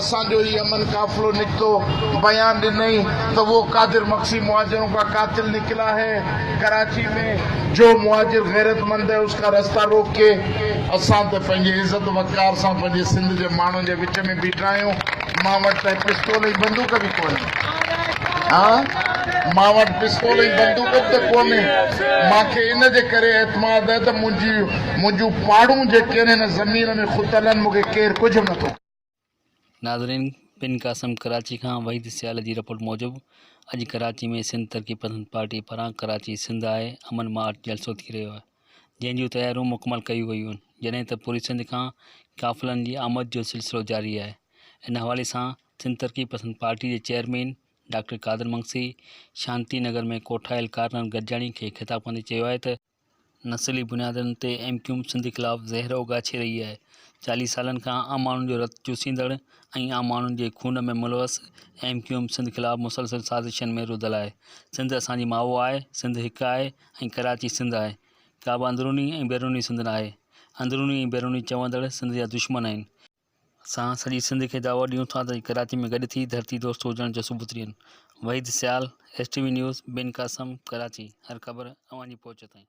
اسان جو هي امن قافلو نڪتو بيان ڏنئي ته وو قادر مگسي مهاجرون ڪا قاتل نڪلا هي ڪراچي ۾ جو مهاجر غيرت مند هي اس ڪا رستا روڪ ڪي. اسان ته پنهنجي عزت وقار سان پنهنجي سنڌ جي ماڻهن جي وچ ۾ بيٺا آهيون مان وٽ ته پستول ۽ بندوق به ڪونهي ها مان وٽ پستول ۽ بندوق به ته ڪونهي مان کي ان جي ڪري اعتماد هي ته منهنجي منهنجون پاڙون جيڪين هن زمين ۾ کتلن مون کي ڪير ڪجهه به نٿو. ناظرين بن قاسم ڪراچي کان وحيد سيال جي رپورٽ موجب اڄ ڪراچي ۾ سنڌ ترقي پسند پارٽي پاران ڪراچي سنڌ آء امن مارچ جلسو ٿي رهيو آهي جنهن جون تياريون مڪمل ڪيون ويون آهن جڏهن ته پوري سنڌ کان قافلن جي آمد جو سلسلو جاري آهي ان حوالي سان سنڌ ترقي پسند پارٽي جي چيئرمين ڊاڪٽر قادر منگسي شانتي نگر ۾ ڪوٺايل ڪارنر گڏجاڻي کي خطاب ڪندي چيو آهي ته نسلي بنيادن تي ايم ڪيو ايم سنڌ خلاف زهر اوڳاڇي رهي آهي، چاليهه سالن کان عام ماڻهن جو رت چوسيندڙ ۽ عام ماڻهن جي خون ۾ ملوث ايم ڪيو ايم سنڌ خلاف مسلسل سازشن ۾ رڌل آهي، سنڌ اسان جي ماء آهي، سنڌ هڪ آهي ۽ ڪراچي سنڌ آهي، ڪابه اندروني ۽ بيروني سنڌ ناهي، اندروني ۽ بيروني چوندڙ سنڌ جا دشمن آهن، اسان سڄي سنڌ کي دعوت ڏيون ٿا ته ڪراچي ۾ گڏ ٿي ڌرتي دوست هجڻ جو ثبوت ڏين Waheed Sial, S T V news, Bin Qasim, Karachi, هر خبر اوهان جي پهچ تائين.